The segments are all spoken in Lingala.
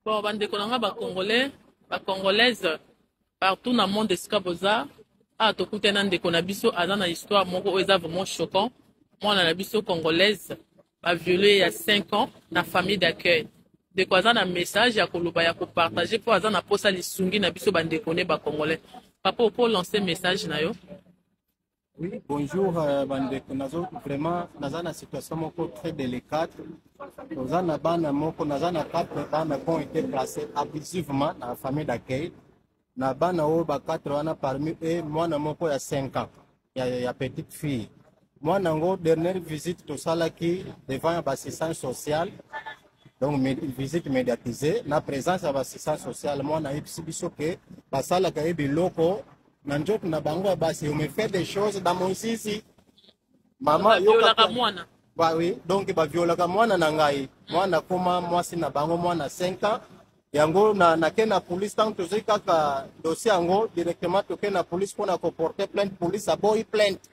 bon bandeko na ngai bacongolais bacongolaise partout na monde esika boza awa ah, tokuta na ndeko na biso aza na histoire moko oyo eza vraiment choquant mwana na biso congolaise baviole ya 5 ans na famille d'accueil ndeko aza na message ya koloba ya kopartage mpo aza na mposa lisungi na biso bandeko ne bacongolais papa oko lance message na yo Oui, bonjour euh, bandeko nazo vraiment naza na situation moko très délicate toza na bana moko naza na quatre bana qui ont été placés abusivement na famille d'accueil na bana oyo ba quatre wana parmi eux mwana moko ya 5 ans ya, ya petite fille mwana yango dernière visite tosalaki devant ya bassistance sociale donc med, visite médiatisée na présence ya bassistance sociale mwana ayebisi biso ke basalaka ye biloko na nzoto na bango ya basi ome fait des choses na mosisi mama yoka mwana ba oui donc ba violaka mwana na ngai mwana koma mwasi na bango mwana 5 ans yango na na ken na police tant tozoi kaka dossier yango directement toke na police mpona koporte plainte police aboyi plainte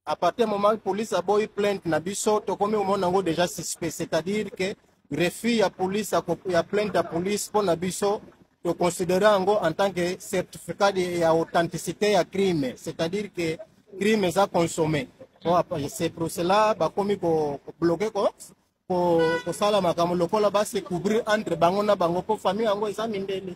à partir du moment police aboyi plainte na biso tokomi komona yango déjà suspect c'est-à-dire que refus ya police ya ko- ya plainte ya police mpo na biso toconsidere yango en tant que certificat de- ya authenticité ya crime c'est-à-dire que crime eza consommé Bon, après, c'est pour cela bakomi kobloke ko ko- kosala makambo lokola base couvrir entre bango na bango mpo famille yango eza mindele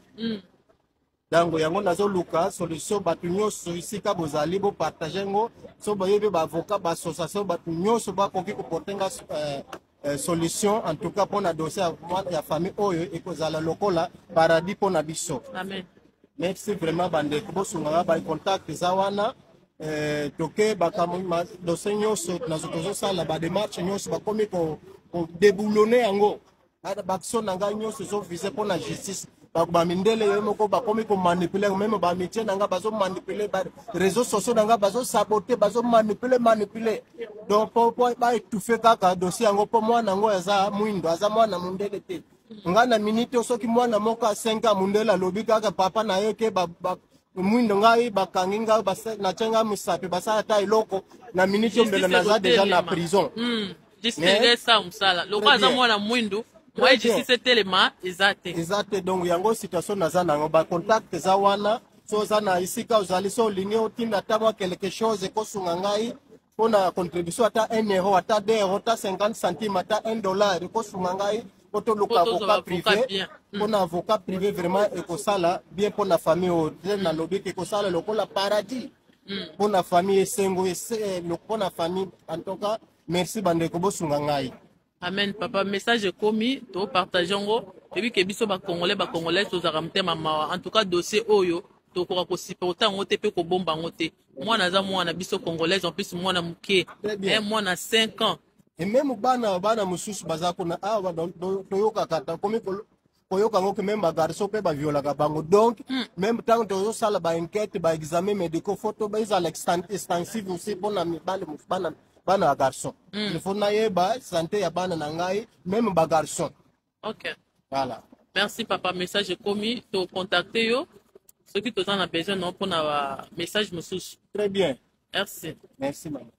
donc yango nazoluka solution bato nyonso esika bozali bopartage ngo so boyebi baavocat baassociation bato nyonso bakoki koporte nga eh, eh, solution en tout cas mpo na dossier ya famille oyo ekozala lokola paradis mpo na biso Amen. merci vraiment bandeko bosungaka bacontact eza wana eh, toke dossier nyonso tozosala bademarche nyonso bakomi kodeboulone yango baction na ngai nyonso ezovise mpo na justice bamindele yo moko bakomi komanipule meme bamitie na ngai bazomanipule bareseau sociaux na ngai bazosabote bazomanipule manipule donc po baetufe kaka dossier yango mpo mwana yango aza mwindo aza mwana mondele te ngai na minite soki mwana moko asenka mondele alobi kaka papa na ye ke mwindo ngai bakangi ngai natye ngai mosapi basala ata eloko na minite ombela naza deja na prison hmm. district esa mosala lokola aza mwana mwindu moye district etelema eza te eza te donc yango situation naza nango bacontact eza wana so oza na esika ozali so olingi otinda ata mwa quelque chose ekosunga ngai mpo na contribution ata 1 euro ata 2 euro ata 50 centime ata 1 dollar ekosunga ngai po toluka avocat privé mpo na avocat privé vraiment ekosala bien mpo na famille oyo te nalobi ke ekosala lokola paradis mpo na famille esengo mpo na famille en tout cas merci bandeko bosunga ngai amen papa message ekomi topartage yango toyebi ke biso bacongolais bacongolais tozalaka motema mawa en tout cas dossier oyo tokoka kosiporte yango te mpe kobomba yango te mwana aza mwana biso congolaise en plus mwana moke eh, mwana 5 ans ememe bana bana mosusu baza kuna awa ah, toyokaka tokomi koyoka yango ke meme bagarso mpe baviolaka bango donc mm. meme ntango tozosala baenquete baexamen médicaux fo to ezala extensive aussi mpo na mibale bana bana ya garçon mm. il faut nayeba sante ya bana na ngai meme bagarçon ok voilà merci papa message ekomi tocontacte yo soki toza na besoin nao mpo na bamessage mosusu très bien merci merci mama